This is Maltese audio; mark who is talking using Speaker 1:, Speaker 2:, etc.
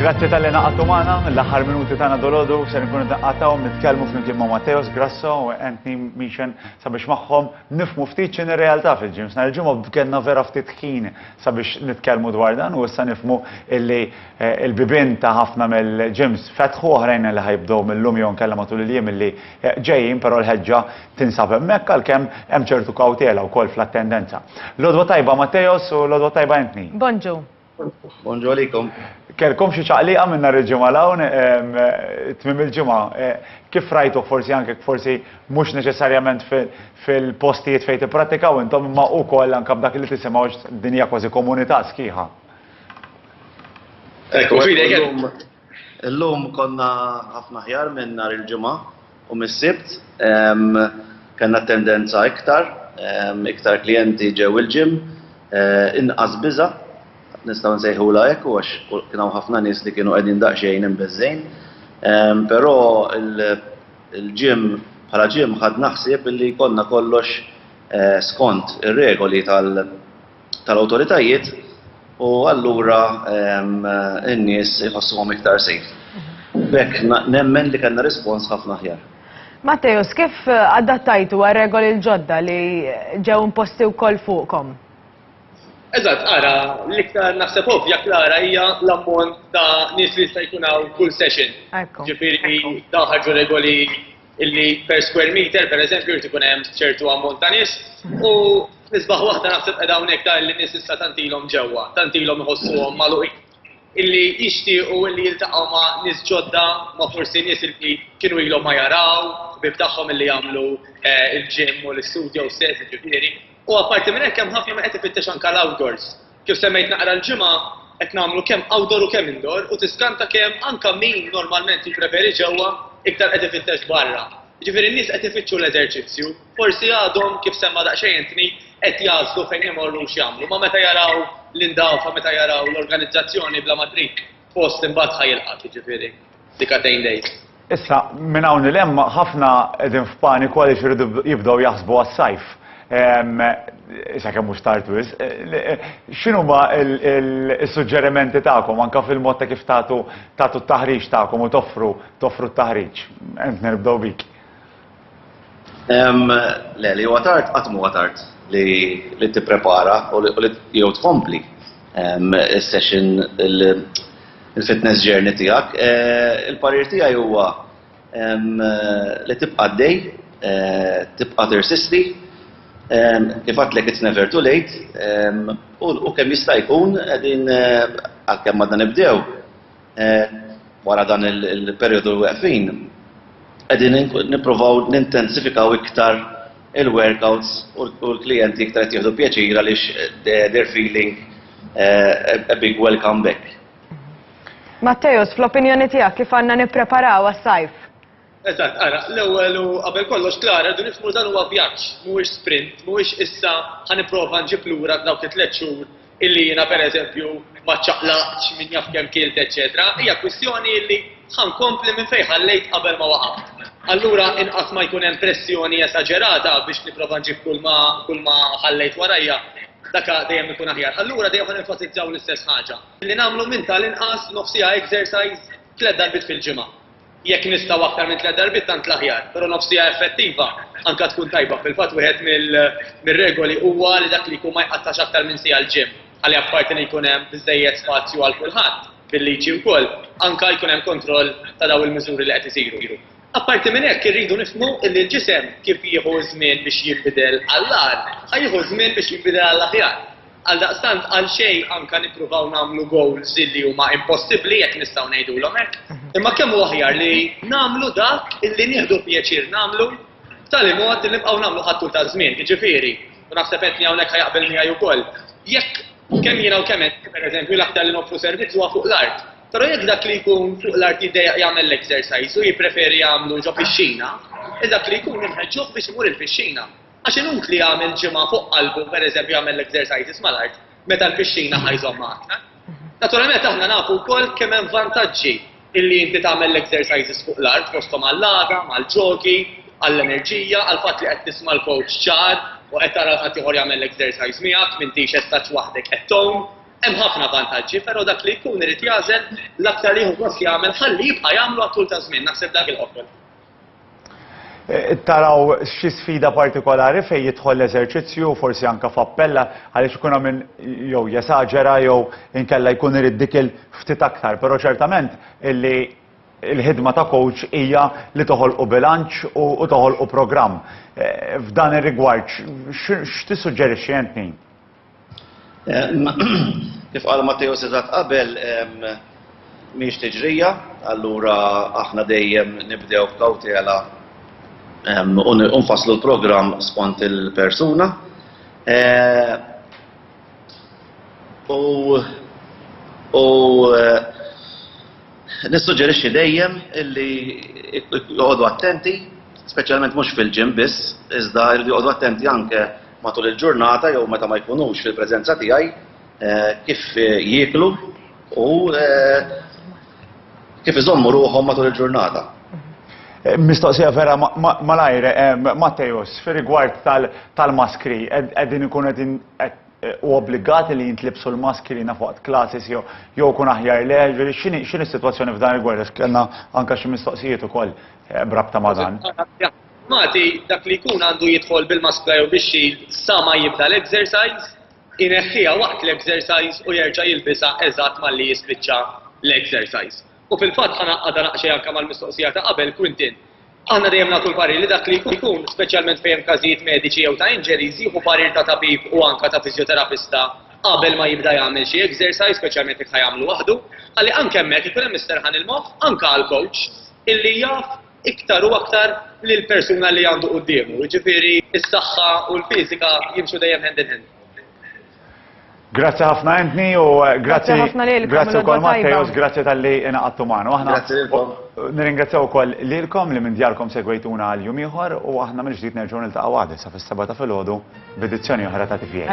Speaker 1: Grazzi tal-li naqatu maħna, l-axar minuti tana dolodu, se nkunu naqataw, nitkelmu flimkien ma' Matteos Grasso u Anthony Michan sabiex maħħom nifmu ftit ċin realtà fil-ġims. Nal-ġimgħa b'kenna vera ftit ħin sabiex nitkelmu dwar dan u issa nifmu illi Il-bibien ta' ħafna mill-gyms fetħu, oħrajn li ħa jibdew mil-lum jew inkella matul il-jiem li ġejjin, però l-ħeġġa tinsab hemmhekk għalkemm hemm ċertu kawtela wkoll fl-attendenza. L-għodwa tajba Matteos u l-għodwa tajba Anthony. Bonġu.
Speaker 2: Bonġu
Speaker 3: għalikom. Kellkom xi
Speaker 1: ċaqliqa minn nhar il-Ġimgħa 'l hawn, tmiem il-ġimgħa. Kif rajtuh forsi anke forsi mhux neċessarjament fil-postijiet fejn tipprattikaw intom imma wkoll anke b'dak li tisimgħu għax din hija kważi komunità sħiħa? Ekku, fidej kemm.
Speaker 3: Illum konna ħafna ħjar minn nhar il-ġimgħa u mis-sibt kellna tendenza iktar, iktar klijenti ġew il-ġim, eh, inqas biża' nistgħu nsejħula hekk u għax kien hawn ħafna nies li kienu qegħdin daqsxejn imbeżżejn. Ehm, però il-ġim bħala ġim ħad naħsib li jkollna kollox eh, skont ir-regoli tal- tal-awtoritajiet u allura n-nies iħossuhom iktar safe. B'hekk nemmen li kellna rispons ħafna aħjar. Matteus, kif
Speaker 2: adattajtu għal regoli l-ġodda li ġew imposti wkoll fuqkom?
Speaker 4: Eżatt, ara, l-iktar naħseb ovvja klara hija l-ammont ta' nies li jista' jkun hawn kull session. Ġifieri daħħalġu regoli illi per square meter, per eżempju, jrid ikun hemm ċertu ammont ta' nies u nisbaħ waħda naħseb qed hawnhekk ta' illi nies issa tant ilhom ġewwa, tant ilhom iħossuhom magħluqin illi jixtiequ illi jiltaqgħu ma' nies ġodda ma' forsi nies illi kienu ilhom ma jaraw, bib tagħhom illi jagħmlu eh, il-ġim u l-istudju stess ġifieri. U apparti minn hekk hemm ħafna ma qed ifittex anke l-outdoors. Kif semmejt naqra l-ġimgħa, qed nagħmlu kemm outdoor u kemm indoor u tiskanta kemm anke min normalment jippreferi ġewwa, iktar qed ifittex barra. Jiġifieri n-nies qed ifittxu l-eżerċizzju. Forsi għadhom, kif semma daqsxejn Anthony, qed jagħżlu fejn imorru u x'jagħmlu, imma meta jaraw l-indawfa, meta jaraw l-organizzazzjoni bla ma trid post imbagħad ħa jilqgħek, jiġifieri. Sika tgħin dejk. Issa, minn
Speaker 1: hawn 'l hemm ħafna qegħdin f'paniku għaliex iridu jibdew jaħsbu għas-sajf. Sakemm mhux tard wisq. X'inhuma s-suġġerimenti tagħkom anke fil-mod ta' kif tagħtu tagħtu t-taħriġ tagħkom u toffru toffru t-taħriġ? Anthony nibdew bik.
Speaker 3: Le, li huwa tard, qatt huwa tard li tipprepara u li jew tkompli is-session il-fitness journey tiegħek. Eh, il-parir tiegħi huwa li tibqa' dej, eh, tibqa' tirsisti, kif għatlek it's never too late, u kemm jista' jkun qegħdin eh, għalkemm għadna nibdew, Wara dan il-perjodu weqfin, qegħdin nippruvaw nintensifikaw iktar il-workouts u l-klijenti iktar qed jieħdu pjaċir għaliex they're feeling a big welcome back.
Speaker 2: Matteus, fl-opinjoni tiegħek kif għandna nippreparaw għas-sajf? Eżatt, ara,
Speaker 4: l-ewwel u qabel kollox, Clara, rridu nifhmu li dan huwa vjaġġ, mhuwiex sprint, mhuwiex issa ħa nipprova nġib lura f'dawk it-tliet xhur illi jiena, pereżempju, ma ċċaqlaqtx, min jaf kemm kilt, eċċetera Hija kwistjoni illi ħa nkompli minn fejn ħallejt qabel ma waqaft. Allura inqas ma jkun hemm pressjoni esaġerata biex nipprova nġib kulma kulma ħallejt warajja, dak dejjem ikun aħjar. Allura dejjem ħa nenfasizzaw l-istess ħaġa, li nagħmlu minn tal-inqas nofsiha exercise tliet darbiet fil-ġimgħa. Jekk nistgħu aktar minn tliet darbiet tant l-aħjar, però nofs siegħa effettiva anke tkun tajba. Fil-fatt wieħed mir-regoli huwa li dak li jkun ma jqattax aktar minn siegħa l-gym, għalli apparti li jkun hemm biżżejjed spazju għal kulħadd, bil-liġi wkoll, anke jkun hemm kontroll ta' dawn il-miżuri li qed isiru. Apparti minn hekk irridu nifhmu li l-ġisem kif jieħu ż-żmien biex jinbidel għall-agħar, ħa jieħu ż-żmien biex jinbidel għall-aħjar. Għaldaqstant għalxejn anke nippruvaw nagħmlu goals li huma impossibbli jekk nistgħu ngħidulhom hekk, imma kemm hu aħjar li nagħmlu dak illi nieħdu pjaċir nagħmlu b'tali mod li nibqgħu nagħmlu ħadd ta' żmien, jiġifieri, u naħseb qed hawnhekk ħajaqbel miegħi wkoll. Jekk kemm jiena u kemm qed pereżempju l-aktar li noffru servizz huwa fuq l-art. Però jekk dak li jkun fuq l-art jiddejjaq jagħmel l-exercise u jippreferi jagħmlu ġo fix-xina, dak li jkun inħeġġuh biex imur il-fix-xina. Għax inutli jagħmel ġimgħa fuq qalbu, pereżempju jagħmel l-exercises mal-art, meta l-pixxina ħa jżommha aktar. Naturalment aħna nafu wkoll kemm hemm vantaġġi illi inti tagħmel l-exercises fuq l-art fosthom għall-għada, mal-ġogi, għall-enerġija, għal fatt li qed tisma' l-coach ċar u qed tara ħadd ieħor jagħmel l-exercise miegħek, m'intix estaċ waħdek qed tgħum. Hemm ħafna vantaġġi, però dak li jkun irid jażel l-aktar li jieħu gost jagħmel ħalli jibqa' jagħmlu għat-tul ta' żmien, naħseb dak il-qofol.
Speaker 1: taraw xi sfida partikolari fejn jidħol l-eżerċizzju u forsi anke f'appell għaliex ikun hemm min jew jesaġera jew inkella jkun irid dik il ftit aktar. Però ċertament illi l-ħidma ta' coach hija li toħolqu bilanċ u toħolqu programm. F'dan ir-rigward x'tissuġġerixxi int Nin?
Speaker 3: Kif qal Matteo Setat qabel, mhix tiġrija, allura aħna dejjem nibdew b'kawtela u nfasslu l-programm skont il-persuna. U nissuġġerixxi dejjem illi joqogħdu attenti, speċjalment mhux fil-ġim biss, iżda jridu joqogħdu attenti anke matul il-ġurnata jew meta ma jkunux fil-preżenza tiegħi kif jieklu u kif iżommu ruħhom matul il-ġurnata.
Speaker 1: Mistoqsija vera malajr, Mattejos, fir rigward tal-maskri, qegħdin ikun qegħdin u obbligati li jintlibsu l-maskri na fuq klasis jew jew kun aħjar le, ġifieri x'inhi x'inhi s-sitwazzjoni f'dan rigward għax kellna anke xi mistoqsijiet ukoll brabta ma' dan. Magħti,
Speaker 4: dak li jkun għandu jidħol bil-maskra jew bix-shield sa ma jibda l-exercise, ineħħiha waqt l-exercise u jerġa' jilbisha eżatt malli jispiċċa l-exercise. U fil-fatt ħa ngħaqqadha naqxej anke mal-mistoqsija ta' qabel, Quintin, aħna dejjem nagħtu l-parir li dak li jkun, speċjalment fejn hemm każijiet mediċi jew ta' injuries, jieħu parir ta' tabib u anke ta' fiżjoterapista qabel ma jibda jagħmel xi exercise, speċjalment jekk ħa jagħmlu waħdu, ħalli anke hemmhekk ikun hemm isterħan il-moħħ anke għall-coach illi jaf iktar u aktar lill-persuna li għandu quddiemu, jiġifieri s-saħħa u l-fiżika jimxu dejjem hand in hand.
Speaker 1: Grazzi ħafna Anthony u eh, grazzi grazzi wkoll Matteos, grazzi tal-li inaqattu magħna. Aħna
Speaker 3: nirringrazzjaw ukoll
Speaker 1: lilkom li minn djarkom segwejtuna għal jum ieħor u aħna mill-ġdid nerġgħu niltaqgħu għadha sa fis-seba' ta' filgħodu b'edizzjoni oħra ta' tifjek.